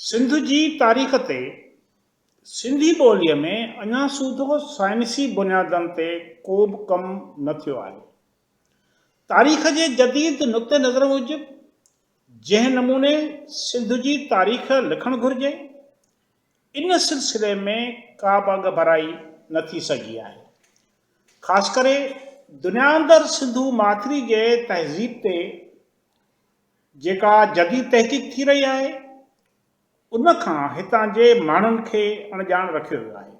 سنڌ جي تاريخ تي سنڌي ٻوليء ۾ اڃا سوڌو سائنسي بنيادن تي ڪوبه ڪم نه ٿيو آهي. تاريخ جي جديد نقطه نظر موجب جنهن نموني سنڌ جي تاريخ لکڻ گهرجي، ان سلسلي ۾ ڪا به اڳڀرائي نه ٿي سگهي آهي. خاص ڪري دنيا اندر سنڌو ماٿري جي تهذيب تي جيڪا جديد تحقيق ٿي رهي آهي، ان کان هتان جي ماڻهن کي اڻڄاڻ رکيو ويو آهي.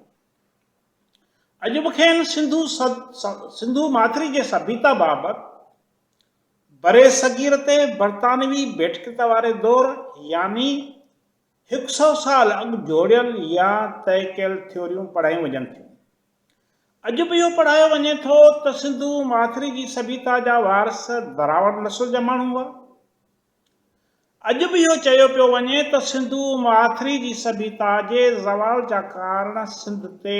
اڄ به کين سنڌو سنڌو ماٿري جي سڀيتا بابت برصغير تي برطانوي ڀيٽڪتا واري دور يعني هڪ سؤ سال اڳ جوڙيل يا طئي ڪيل ٿيوريون پڙهايون وڃن ٿيون. اڄ به اهو پڙهايو وڃي ٿو ته سنڌو ماٿري جي سڀيتا جا وارث دراوڙ نسل جا ماڻهو هئا. اڄ به اهو چيو پيو وڃي ته سنڌو ماٿري جي سڀيتا جي زوال جا ڪارڻ سنڌ تي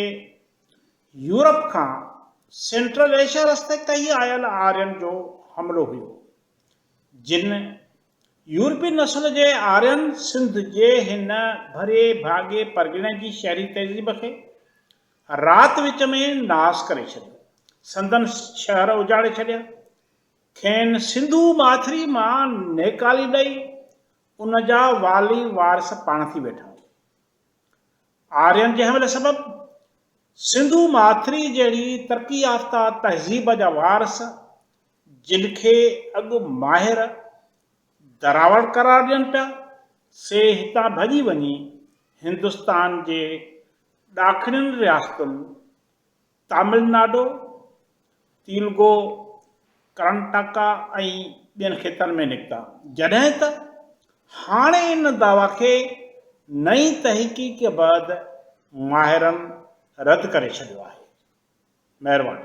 يورپ کان سينٽرل ايشيا رستي ڪهي آيل آرين جو حملو هيو جن يورپي نسل جي آرين سنڌ جي هن ڀري ڀاڳي پرڳڻي جي شهري تهذيب کي رات وچ ۾ ناس ڪري ڇڏيو سندن شهر اجاڙي ڇڏيا کين سنڌو ماٿري مان نيڪالي ڏئي ان جا والي وارث پاڻ ٿي ويٺا. آرين جنهن ويل سبب سنڌو ماٿري جهڙي ترقي يافته تهذيب جا وارث جن کي اڳ ماهر دراوڙ قرار ڏين پيا سي هتان ڀڄي وڃي هندستان جي ڏاکڻين رياستن، تامل ناڊو، تيلگو، ڪرناٽڪا ۽ ٻين خطن ۾ نڪتا، جڏهن ته هاڻي ان دعويٰ کي نئين تحقيق بعد ماهرن رد ڪري ڇڏيو آهي. مهرباني.